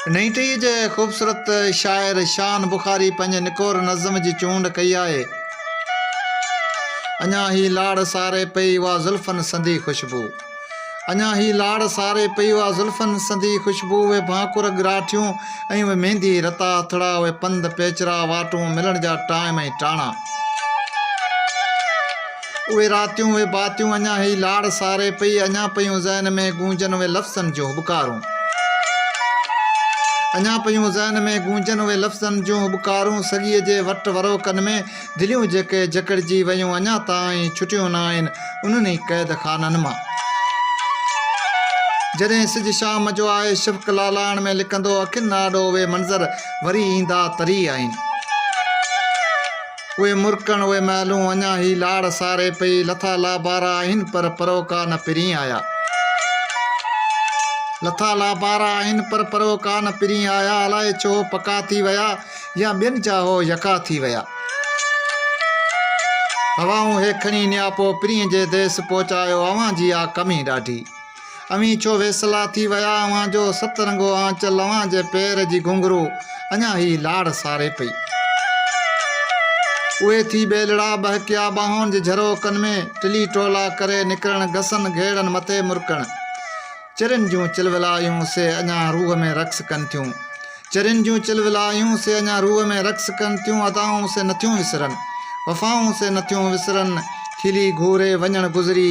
انهيء تي ئي جي خوبصورت شاعر شان بخاري پنهنجي نڪور نظم جي چونڊ ڪئي آهي. اڃا هي لاڙ ساري پئي اها زلفن سندي خوشبو. اڃا هي لاڙ ساري پئي اها زلفن سندي خوشبو اهي ڀانڪر ڳراٺيون ۽ اهي ميندي رتا هٿڙا اهي پنڌ پيچرا واٽون ملڻ جا ٽائيم ۽ ٽاڻا. اهي راتيون، اهي باتيون، اڃا هي لاڙ ساري پئي، اڃا پيون ذهن ۾ گونجن اهي لفظن جون هٻڪارون. اڃا پيون ذهن ۾ گونجن اهي لفظن جون هٻڪارون، سڳيء جي وٽ وروڪن ۾، دليون جيڪي جڪڙجي ويون، اڃا تائين ڇٽيون نه آهن، انهن ئي قيد خانن مان. جڏهن سج شام جو آهي، شفق لالاڻ ۾ لڪندو، اکين آڏو اهي منظر وري ايندا تري آهن. اهي مرڪڻ اهي محلون اڃا هي لاڙ ساري پئي لٿا لابارا آهن پر پروڪا نه پرين آيا لٿا لابارا آهن پر پروڪا نه پرين آيا الائي ڇو پڪا ٿي ويا يا ٻين جا هو يڪا ٿي ويا هوائون هي کڻي نياپو پرين جي ديس پهچايو اوهان جي آ ڪمي ڏاڍي اوهين ڇو ويسلا ٿي ويا اوهان جو ست رنگو آنچل اوهان جي پير جي گهنگهرو اڃا هي لاڙ ساري پئي اهي ٿي ٻيلڙا ٻهڪيا ٻانهن جي جهروڪن ۾ ٽلي ٽولا ڪري نڪرڻ گسن گهيڙن مٿي مرڪڻ چرين جون چلولايون سي اڃا روح ۾ رقص ڪن ٿيون چرين جون چلولايون سي اڃا روح ۾ رقص ڪن ٿيون ادائون سي نٿيون وسرن وفائون سي نٿيون وسرن کلي گهوري وڃڻ گذري